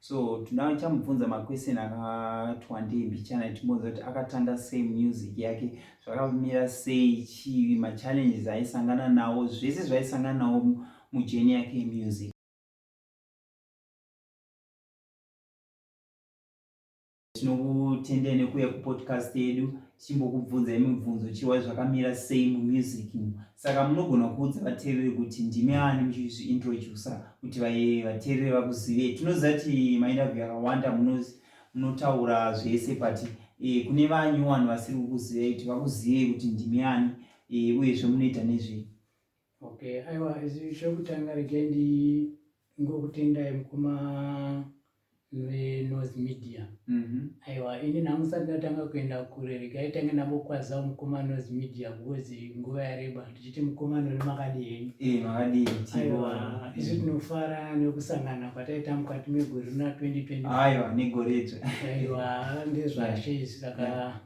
so tinoda chamubvunza maquestion akati wandei mbichana timbonza kuti akatanga sei music yake zvakamira sei chii machallenges aisangana nawo zvese zvaisangana nawo mujeni yake yemusic tinokutendai nekuuya kupodcast yedu tichimbokubvunzai mibvunzo chiwa zvakamira sei mumusic saka munogona kuudza vateereri kuti ndimi ani muchizviintrodusa kuti vateereri vakuzivei tinoziva kuti mainterview yakawanda munotaura zvese but e, kune vanyuwani vasiri kukuzivei kuti vakuzivei kuti ndimi ani e, uyezve munoita nezvei Okay, aiwa chekutanga regai ndingokutendai mukoma veNorth Media. Mm-hmm. Aiwa ini nhangu sati ndatanga kuenda kure regai tange ndambokwazawo mukoma North Media because nguva yareba ndichiti mukoma nori makadii henyu. Eh, makadii. Aiwa isu tinofara nekusangana kwataita mukati megore rina 2020. Aiwa negore idzo. Aiwa ndezvashe izvi saka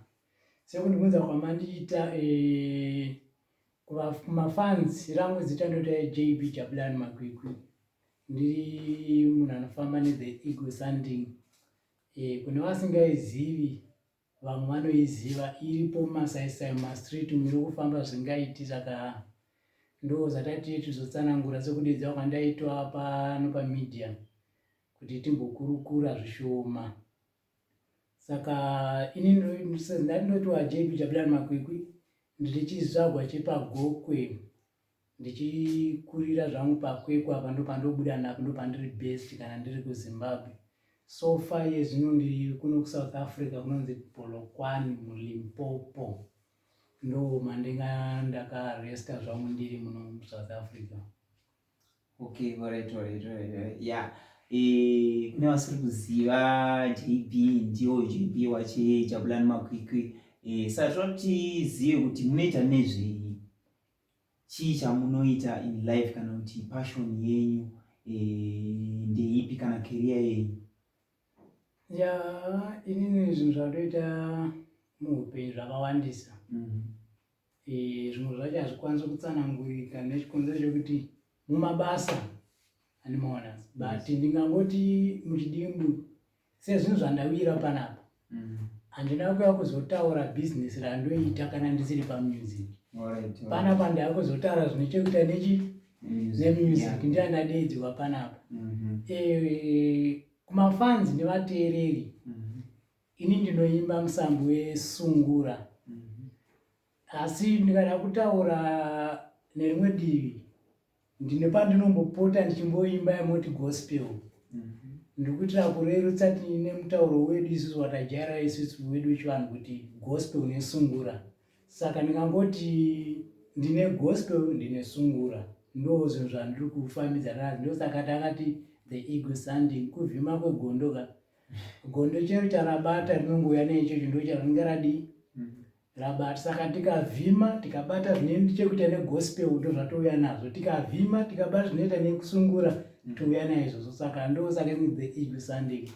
sekundibvunza kwamandiita eh, Kuva mafans rangu zita ndota JB Jabulani Makwikwi. Ndiri munhu anofamba ne the ego sanding. Eh kune vasingaizivi vamwe vanoiziva iripo masaisai mastreet miri kufamba zvingaiti saka ndo zvatati tizotsanangura sekudeedza kwandaitwa pano pamedia kuti timbokurukura zvishoma saka ini ndandinotiwa jb jabilan makwikwi ndiri chizvagwa chepagokwe ndichikurira zvangu pakwekwe apa ndopandobuda napo ndopandiri best kana ndiri kuzimbabwe so far iye zvino ndiri kuno kusouth africa kunonzi bolokwani mulimpopo ndo mandinga ndakaresta zvangu ndiri muno musouth africa Okay, alright, alright, alright. Yeah. Eh, kune vasiri kuziva JB ndiwo JB wache Jabulani Makwikwi. Eh, saka tinoda kuti zive kuti munoita nezvei. Chii chamunoita in life kana kuti passion yenyu eh, ndeipi kana career yenyu? Ya, inini zvinhu zvandoita muupenyu zvakawandisa. Mm -hmm. Eh, zvimwe zvacho hazvikwanisi kutsanangurika nechikonzero chekuti mumabasa andimaona but mm. ndingangoti muchidimbu sezvinhu zvandawira panapa mm. handina kuya kuzotaura business randoita kana ndisiri pamusic panapa ndava kuzotaura zvine chekuita nechi nemusic ndiya ndadeidzirwa panapa mm-hmm. eh, kumafanzi nevateereri mm-hmm. Ini ndinoimba musambo wesungura mhm. asi ndikada kutaura nerimwe divi ndine pandinombopota ndichimboimba yamoti gospel mhm. ndiri kuitira kurerutsa tiine mutauro wedu isusu watajaira isusu wedu wechivanhu kuti gospel nesungura saka ndingangoti ndine gospel ndine sungura ndo zvinhu zvandiri kufambidzana nazvo ndosaka takati the ego sanding kuvhima kwegondoka Gondo chero charabata rinongouya neichocho ndocharinenge radii rabata saka tikavhima tikabata zvine chekuita negospel ndo zvatouya nazvo tikavhima tikabata zvinoita nekusungura mm. touya naizvozvo saka ndosaka the ego sunday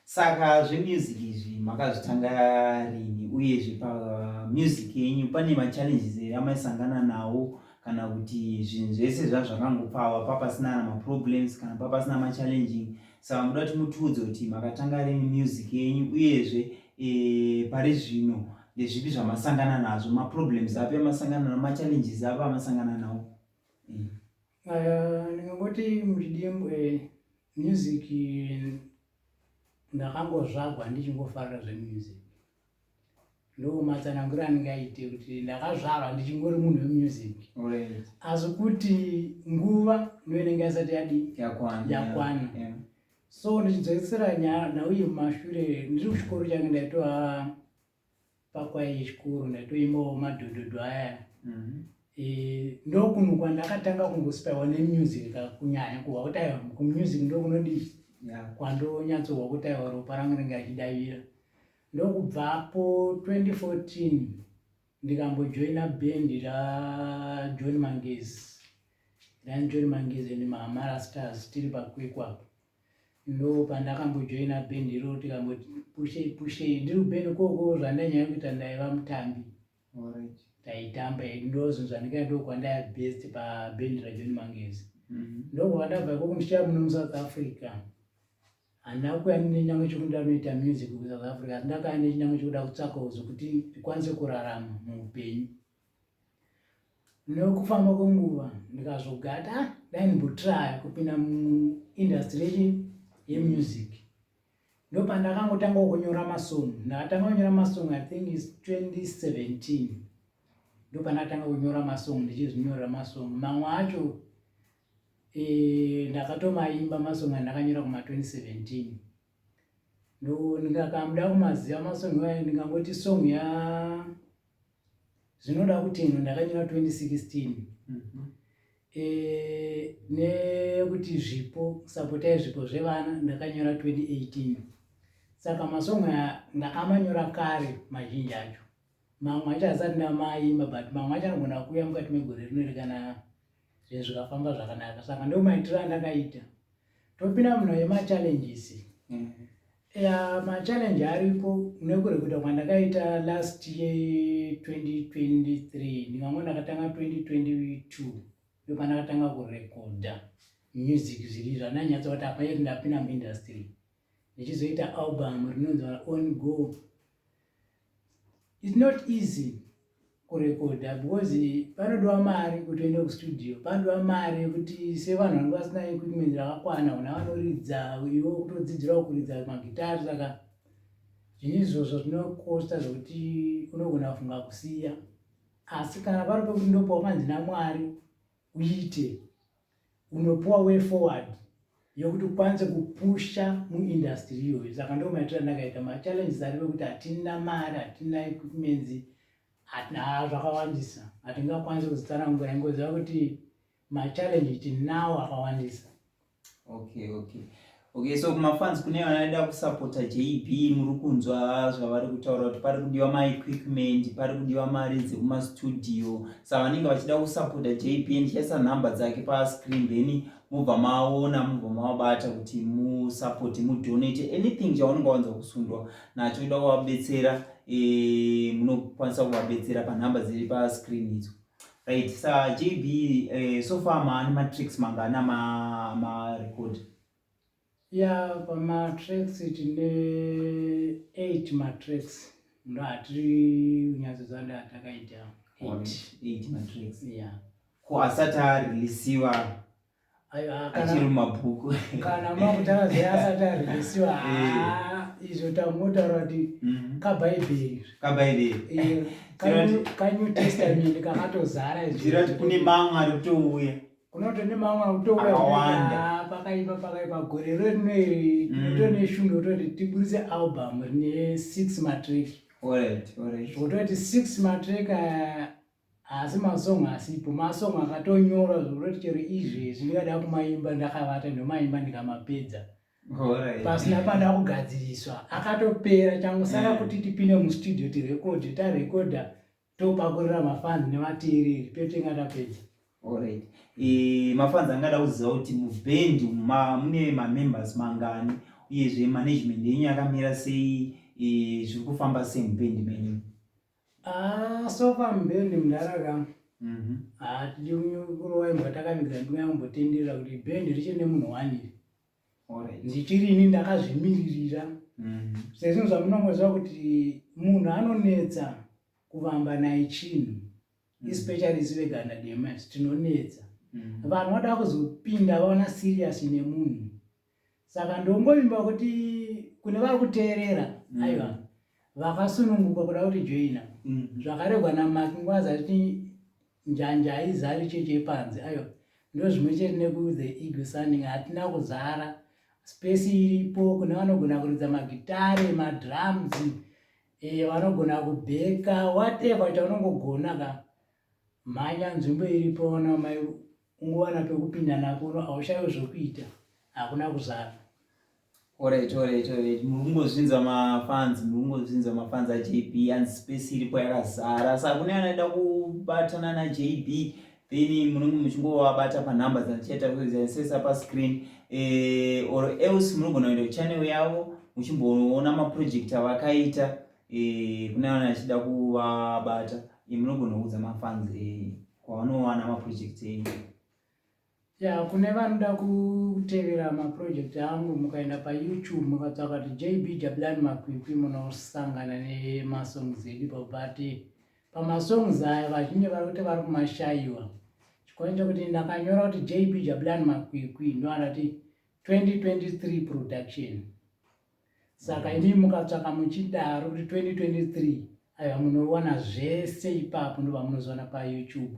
saka zvemusic izvi makazvitanga rini uyezve pamusic yenyu pane machallenges ere amaisangana nawo kana kuti zvinhu zvese zvazvakangopfawa papasina na maproblems kana papasina machallenging saka muda kuti mutiudze kuti makatanga rini music yenyu uyezve e, pari zvino ndezvipi zvamasangana nazvo maproblems api amasangana nao machallenges api amasangana nawo mm. uh, ndingangoti muchidimbo eh, music ndakangozvagwa ndichingofarira zvemusic ndo matsanangura anenge aite kuti ndakazvarwa ndichingori munhu wemusic asi kuti nguva ndoinenge yasati yadi yakwana so ndichidzokesera nyaya nhau yemumashure ndiri kuchikoro change ndaitova pakwai chikoro ndaitoimbawo madhodhodho aya mm-hmm. Eh, ndokunhu kwandakatanga kungosipaiwa nemusic kakunyanya kuva kuti aiwa kumusic ndokunodii kwandonyatsohwa kuti aiwa ropa rangu ringe achidavira ndokubvapo 2014 ndikambojoina bendi rajohn mangezi ranjohn mangezi and mahamara stars tiri pakwekwapo ndo pandakambojoina bendi iroro tikamboti pushei pushei ndiri kubeni koko zvandanyanya kuita ndaiva mutambi taitamba ndozonzwa ndikati ndokwandaya best paband rajohn mangezi mm-hmm. ndokubva ndabva ikoko ndichaya muno musouth africa handina kuya nenyamwe chekuti ndanoita music kusouth africa asi ndakaya nechinyamwe chekuda kutsvaka uzo kuti ndikwanise kurarama muupenyu nokufamba kwenguva ndikazogata ah, dai ndimbotraya kupinda muindastry yemusic ndopandakangotanga kunyora masong ndakatanga kunyora masong i think is 2017 ndopandakatanga kunyora masong ndichizvinyorera masong mamwe acho eh, ndakatomaimba masong andakanyora kuma 2017 ndikakamda kumaziva masong ndingangoti song ya zvinoda kuti ino ndakanyora 2016 mm -hmm. e, nekuti zvipo sapota yezvipo zvevana ndakanyora 2018 saka masongo aya ndakamanyora kare mazhinji acho mamwe acho asati ndamaimba but mamwe acho anogona kuuya mukati megore rino iri kana zvinhu zvikafamba zvakanaka saka ndo maitiro andakaita topinda munhu yemachallenges mm. ya machallenje aripo nekure kuita kwandakaita last year 2023 ndingango ndakatanga 2022 ndo pandakatanga kurekodha music zviri zvananyatsa kuti apaye ndapinda muindustry ndichizoita album rinonzi on go it's not easy kurekodha because panodiwa mari kuti uende kustudio panodiwa mari yekuti sevanhu vanenge vasina equipment rakakwana una vanoridza iwe kutodzidzirawo kuridza magitari saka zvine izvozvo zvinokosta zvekuti unogona kufunga kusiya asi kana pari pekuti ndopawakanzi namwari uite Unopiwa way forward yekuti ukwanise kupusha muindustry iyoyo saka ndo maitiro andakaita machallenges aripo ekuti hatina mari hatina equipments haa zvakawandisa hatingakwanisi kuzitsanangura ingoziva kuti machallenge tinawo akawandisa okay okay Okay, so kumafans kune vanoda kusapota JB muri kunzwa zvavari kutaura kuti pari kudiwa maequipment, pari kudiwa mari dzekumastudio. Sa vanenge vachida kusapota JB ndichaisa nhamba dzake pascreen then mubva maona mubva mavabata kuti musapoti mudonate anything chaunenge wanza kusundwa nacho kuda kuvabetsera eh, munokwanisa kuvabetsera panhamba dziri pascreen idzo. Right, sa JB eh, so far maani matricks mangana ma, ma record? Ya pamatricks tine 8 matricks ndo atiri kunyatso zanda atakaita 8 matricks. Yeah. Ko asati areleasiwa achiri mumabhuku kana makutaura zve asati arisiwa eh. izvo tamotaura kuti mhm. kabhaibheri kabhaibheri kanew testament kakatozara izvirati kune mamwe ari kutouya kunoto ne mamwe ari kutouya pakaipa pakaipa gore ro rino iri mm. to neshungu yototi tiburitse album rine six matrek zvototi six matrek Haasi masong asipo, masong akatonyorwa zvekutoti chero izvezvi ndikada kumaimba ndakavata ndomaimba ndikamapedza pasina panda kugadziriswa akatopera changu saka kuti tipinde mustudio tirekodhe tarekodha topakurira mafans nevateereri totenga tapedza Alright. E, mafanzi angada kuziva kuti mubhendi ma, mune mamembers mangani uyezve management yenyu yakamira sei e, zviri kufamba sei mubhendi menyu Ah, so far mbendi mudhara ka mhm. hatidi ah, kurova imbwa takaviga ndingambotenderera kuti bendi riche nemunhu waniri ndichiri ini ndakazvimiririra mhm. sezvinhu zvamunongoziva kuti munhu anonetsa kuvamba naye chinhu mhm. especially isi veganda dema tinonetsa vanhu vada kuzopinda vaona serious nemunhu saka ndongovimba kuti kune vari kuteerera mm. aiwa vakasununguka kuda kuti joina mm. zvakaregwa namaki nguva zati njanja haizari chechi yepanze aiwa ndozvimwe chete nekuthe ego sanding hatina kuzara spesi iripo kune vanogona kuridza magitare madrums e, vanogona kubheka whatever kuti vanongogona ka mhanya nzvimbo iripo ona mai ungowana pekupinda napo uno haushaiwe zvokuita hakuna kuzara orit orit orit muri kungozvinza mafans muri kungozvinza mafans ajb and space iripo yakazara sa kune anoenda kubatana najb then munenge muchingovabata panumber dzanichaita kuzaisesa pascreen eh, or else munogona kuenda kuchannel yavo muchimboona maproject avakaita eh, kune ana achida kuvabata eh, munogona kuudza mafans eh. kwavanowana maproject enyu ya kune vanoda kutevera maproject angu mukaenda payoutube mukatsvaka kuti jb jabulani makwikwi munosangana nemasongs edu but pamasongs aya vazhinji vari kuti vari kumashayiwa chikonye chekuti ndakanyora kuti jb jabulani makwikwi ndoandati 2023 production Saka imi mukatsvaka muchidaro kuti 2023 aiwa munowana zvese ipapo ndova munozoona payoutube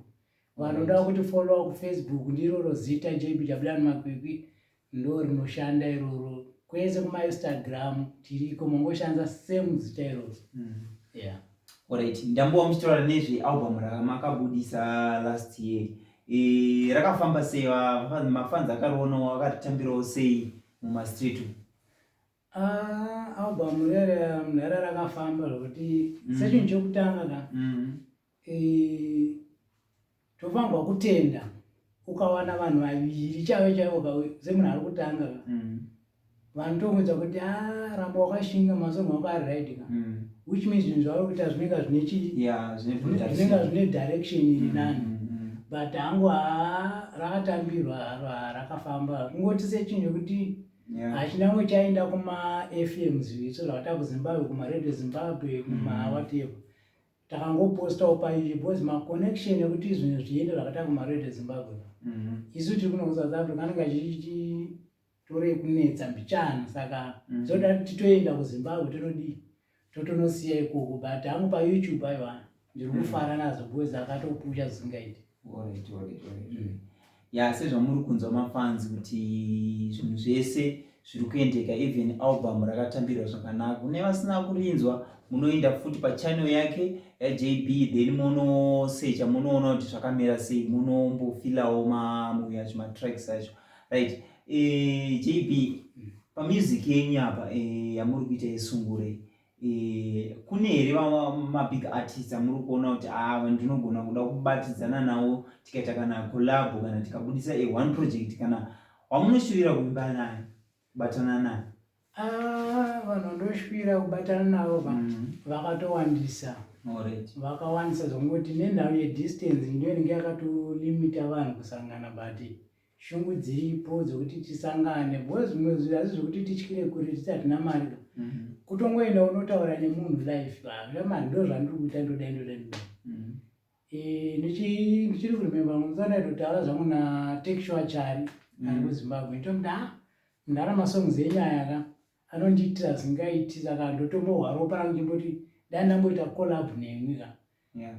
vanoda kuti followa kufacebook ndiroro zita jbwr makwikwi ndo rinoshanda iroro kwese kumainstagram tiriko mongoshandisa same zita iroro mm. yeah. orit ndambowa muchitaura nezvealbum ramakabudisa last year e, rakafamba sei mafans akarionawo akaritambirawo sei mumastreet Ah, album rere mhere rakafamba zvokuti mm. sechinhu chekutanga ka mm. tofanirwa kutenda ukawana vanhu vaviri chaivo chaivo ka semunhu ari kutanga ka mm. vanhu tomuudza kuti a ah, ramba wakashinga masonho wako ari right ka which means zvinhu zvavari kuita zvinenga zvine chiinenga zvine direction iri nani but hangu haa rakatambirwa haro haa rakafamba kungoti sechinhu chekuti Hachinangwe chaenda kumaFMs so zvakatava kuZimbabwe, kumaRadio Zimbabwe, kumawhatever. Mm. Takangopostawo paizvi because maconnection ekuti zvinhu zviende zvakatava kumaRadio Zimbabwe. Mm-hmm. Isu tiri kuno kuSouth Africa anenge achichitorei kunetsa mbichana saka mm. so tati titoenda kuZimbabwe tinodii. totonosiya ikoko but hangu payoutube ayo vanhu ndiri mm. kufara nazo because akatopusha zvisingaiti mm. ya sezvamuri kunzwa mafanzi kuti zvinhu zvese zviri kuendeka even album rakatambirwa zvakanaka kune vasina kurinzwa munoenda futi pachannel yake yajb then monosecha munoona kuti zvakamira sei munombofilawo mamuyacho matracks acho right eh, JB pa music yenyu apa eh, yamuri kuita yesungure eh, kune here mabig artist amuri kuona kuti ava ah, ndinogona kuda kubatidzana nawo tikaita kana collabo kana tikabudisa a one project kana wamunoshuvira kuimba naye kubatana naye ah, vanhu ndoshuvira kubatana navo mm. vakatowandisa vakawandisa zvongoti nenhau yedistance ndoinenge yakatolimita vanhu kusangana but shungu dziripo dzokuti tisangane bcause zvimwe zvinhu asi zvekuti tityire kuri titi hatina mari ka mhm. kutongoenda unotaura nemunhu life hazvina mari ndo zvandiri kuita ndoda ndoda ndoda mhm. eh, ndichiri kurememba musana itotaura zvangu natekshua chari mhm. ari kuzimbabwe ndomuda ah, mundara masongs enyaya ka anondiitira zingaiti saka ndotombohwa ropa rangu chimboti dai ndamboita collab nemwi ka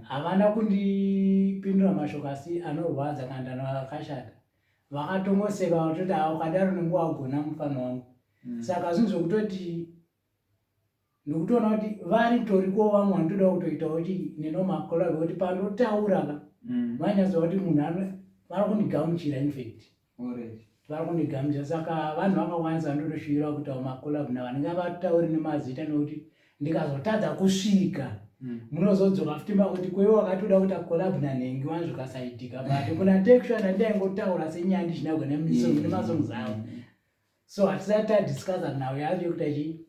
Havana kundipindura mashoko asi anorwadza kana ndanoa akashata. Vakatongoseka vakatoti haa ukadaro unenge wagona mufana wangu. Mm. Saka zvinhu zvokutoti ndikutoona kuti vari toriko vamwe vanotoda kutoitawo kuti nenomakola vekuti panotaura ka mm. vanyatsoa kuti munhu vari kundigamuchira infact. vakundigamuchira saka vanhu vakawandisa ndotoshuvirwa kuti awo makolabhu navo ndingavatauri nemazita nekuti ndikazotadza kusvika hmm. munozodzoka futi makuti kweve wakatoda kuita kolabhu nanhengi wani zvikasaitika but kuna texua nandaingotaura senyandi chinagwa nemasong zavo hmm. so hatisati tadiscussa nhau yacho yekuti achi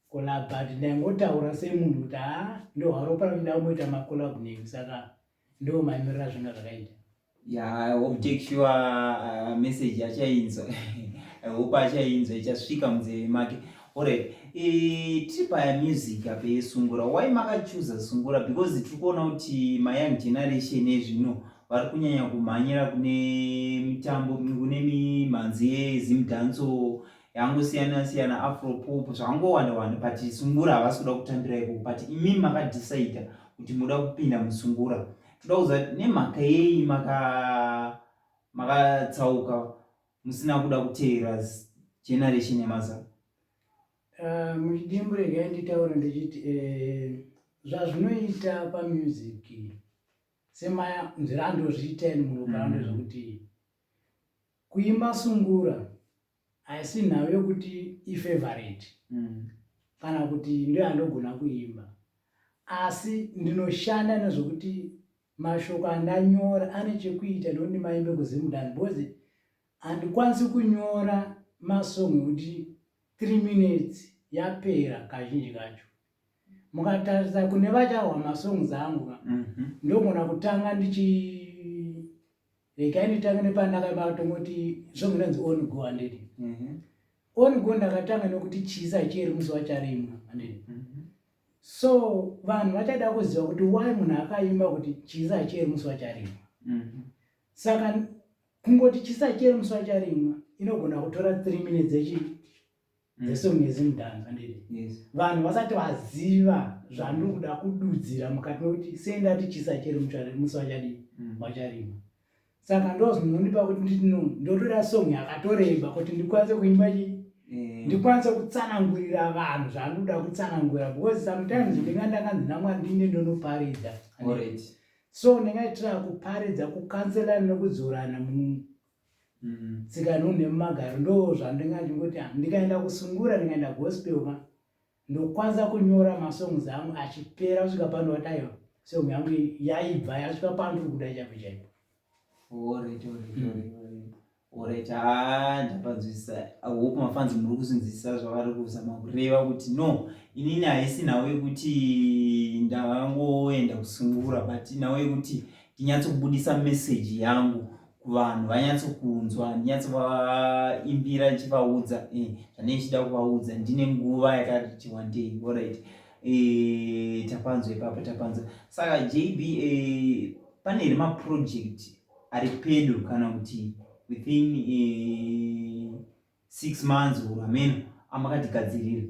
kolabhu but ndaingotaura semunhu kuti haa ndohwaropara kuda kumoita makolabhu nhengi saka Ndo mamiriro azvinga zvakaita. Yeah, I hope take sure uh, message achainzwa. I hope achainzwa ichasvika munzeve make. Alright. E, tiri paya music apa yesungura. Why makachuza sungura? Because tiri kuona kuti my young generation ezvino vari kunyanya kumhanyira kune mitambo kune mimhanzi yezimdanso yangu siyana siyana afro pop zvangowanda wanda but sungura havasi kuda kutambira ikoko but imimi makadhisaida kuti muda kupinda musungura toda kuziva kuti nemhaka yei makatsauka maka musina kuda kuteera generation yemazana eh, muchidimbu regai nditaura ndichiti eh, zvazvinoita pamusic semaya nzira andozviita ini muloka mm. andozvokuti kuimba sungura haisi nhau yokuti ifevareti mm. kana kuti ndoyandogona kuimba asi ndinoshanda nezvokuti mashoko andanyora ane chekuita ndokuti maimbe kuzimudani because handikwanisi kunyora masong ekuti three minutes yapera kazhinji kacho mukatarisa kune vachahwa masongs angu mhm. ndogona kutanga ndichi regai nditange nepandakabata ungoti zvomwe nonzi on go handidi mhm. on go ndakatanga nokuti chisa chiri muzuva charimwa handidi mhm. so vanhu vachada kuziva kuti why munhu akaimba kuti chisa chiri muzuva charimwa mhm. saka kungoti chisa chiri muzuva charimwa inogona kutora three minutes echi mm. the song is mudhanza ndiri yes. vanhu vasati vaziva zvandiri kuda kududzira mukati mekuti sei ndati chisa chiri musi vachadii mm. vacharima mm. saka ndozvinondipa kuti nditi no ndotora song yakatoreba kuti ndikwanise kuimba chii Eh. ndikwanise kutsanangurira vanhu zvaanoda kutsanangurira because sometimes ndinga ndakanzi namwari ndine ndonoparidza so ndingaitira kuparidza kukanselana nekudzorana Mm, tsika nunhu nemumagaro ndo zvandinga ndingoti am ndikaenda kusungura ndikaenda gospel ma ndokwanza kunyora masongs angu achipera kusvika pano vataiwa song yangu yaibva yasvika pano tiri kuda chaipo chaipo orit haa ndapanzwisisa hope mafanzi muri kusinzwisisa zvavari kuzama kureva kuti no inini haisi nhau yekuti ndavangoenda kusungura but nhau yekuti ndinyatsokubudisa meseji yangu kuvanhu vanyatsokunzwa handinyatsovayimbira ndichivaudza eh, zvanei chida kuvaudza ndine nguva yakati wandei orit eh, tapanzwa ipapo tapanzwa saka jb eh, pane here maproject ari pedo kana kuti within six months or ameno amakatigadzirira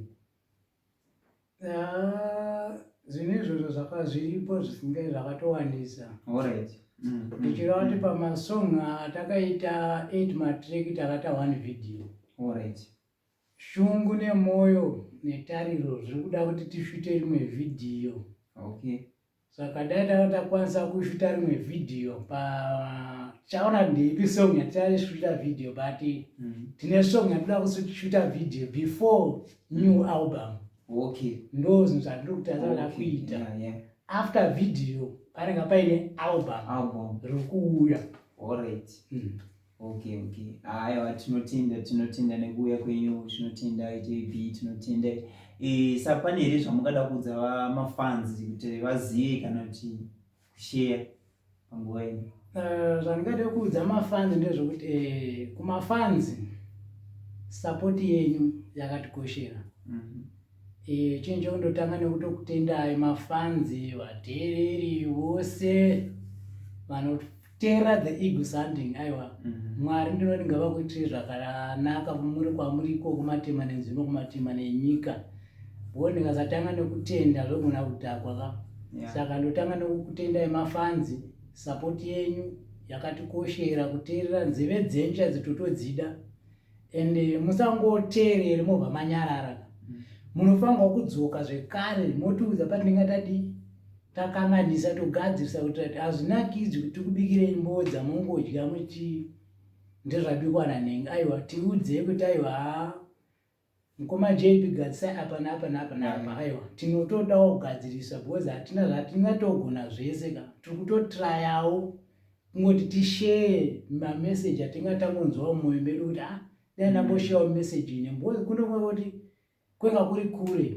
Ah, zvinhu izvozvo zvaka zviripo zvisingai zvakatowandisa Alright. Mm, mm, ndichireva kuti mm. pamasong atakaita 8 matrack takaita one video Alright. shungu nemwoyo netariro zviri kuda kuti tishute rimwe vhidhiyo Okay. Saka dai tanga takwanisa kushuta rimwe video pa chaona ndeipi song yatichashuta video but mm. tine song yatinoda kushuta video before new album okay ndo zvinhu zvatiri kutarisana okay. kuita yeah, yeah. after video panenge paine album, album. rikuuya all right mm. Okay, okay. Aiwa tinotenda tinotenda nekuuya kwenyu tinotenda JB tinotenda eh sa pane here zvamungada kuudza mafans kuti vazive kana kuti kushare panguva ino. Eh, zvandingada kuudza mafans ndezvekuti eh, kumafans support yenyu yakatikoshera. Mm -hmm. Eh, chinhu chekundotanga nekutokutendai mafanzi vateereri vose vanoteerera the eagle sanding aiwa mm -hmm. mwari ndinoti ngavakuitire zvakanaka muri kwamuri iko kumatema nenzvimbo kumatema nenyika bo ndikasatanga nekutenda zvogona kudhakwa ka yeah. saka ndotanga nekukutendai mafanzi sapoti yenyu yakatikoshera kuteerera nzeve dzenyu chaidzo totodzida and eh, musangoteerere mobva manyarara mm. munofanirwa kudzoka zvekare motiudza patinenge tadii takanganisa togadzirisa kuti ati hazvinakidzi kuti tikubikire imbowo dzamongodya muti ndezvabikwa nanhenga aiwa tiudzei kuti aiwa haa Mkoma JP gadzisai apa napa napa napa aiwa tinotodawo kugadzirisa because hatina zvatingatogona zvese ka tiri kutotrayawo kungoti tishare mameseji atinga tangonzwawo mumwoyo medu kuti a ah, dai ndamboshayawo meseji ine because kuno kwekuti kwanga kuri kure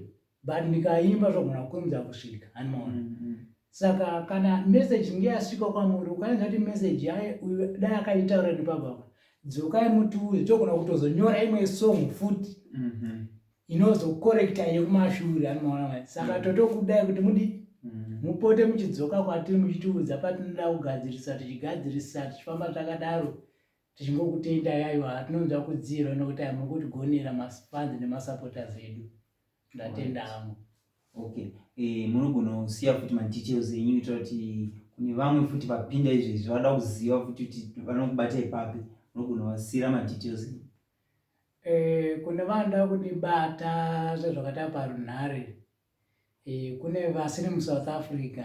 but ndikaimba zvogona kukurumidza kusvika hanimaona mm -hmm. saka kana message inge yasvika kwamuri ukaenza kuti message yaye uyu dai akaitaura nepababa dzokai mutuuzi togona kutozonyora imwe song futi mm -hmm. inozokorekta yekumashure hanimaona mai saka mm -hmm. totokudai kuti mudi mm -hmm. mupote muchidzoka kwatiri muchitiudza patinoda kugadzirisa tichigadzirisa tichifamba takadaro tichingokutenda yaiwa tinonzwa kudziro nokuti ai muri kutigonera mafans nemasupporters edu ndatenda hangu okay eh, munogona kusiya futi madetails enyu kuitira kuti kune vamwe futi vapinda izvezvi vada kuziva futi kuti vanokubata ipapi munogona vasiyira madetails enyu eh, kune vanoda kundibata zvezvakata parunhare eh, kune vasiri musouth africa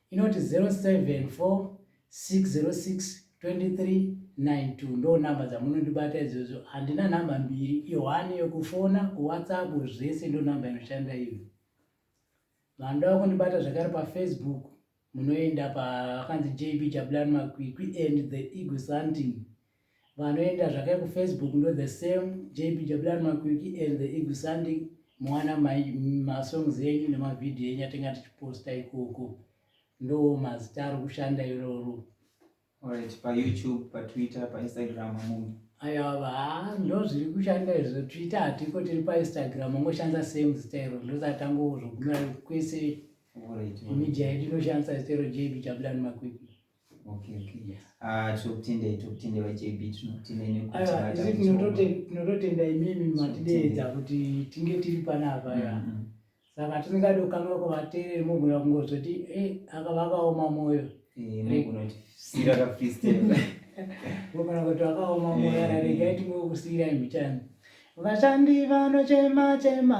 inoti 0746062392 ndo number dzamunondibata izvozvo handina number mbiri ihwani yokufona kuwhatsapp zvese ndo number inoshanda iyo vanoda vakundibata zvakare pafacebook munoenda paakanzi jb jabulani makwikwi and the eagle santing vanoenda zvake kufacebook ndo the same jbwr makwiki and the eagle sanding mowana masongs enyu nemavhidhiyo enyu atenga tichiposta ikoko ndo mazita ari kushanda iroro right payoutube patwitter painstagram amunhu ayava haa ndo zviri kushanda izvo twitter hatiko tiri painstagram ongoshandisa same zita iro ndosatangozogumira kwese media yedu inoshandisa zita iro jbwr makwiki tinototenda imimi matideedza kuti tinge tiri panapa ya mm, mm. saka tisingadi kukamira kuvateereri mogona kungozoti eh, aka vakaoma mwoyo eh, mogona kuti vakaoma mwoyo eh, raregai tingoe kusiira imichani vashandi vanochema chema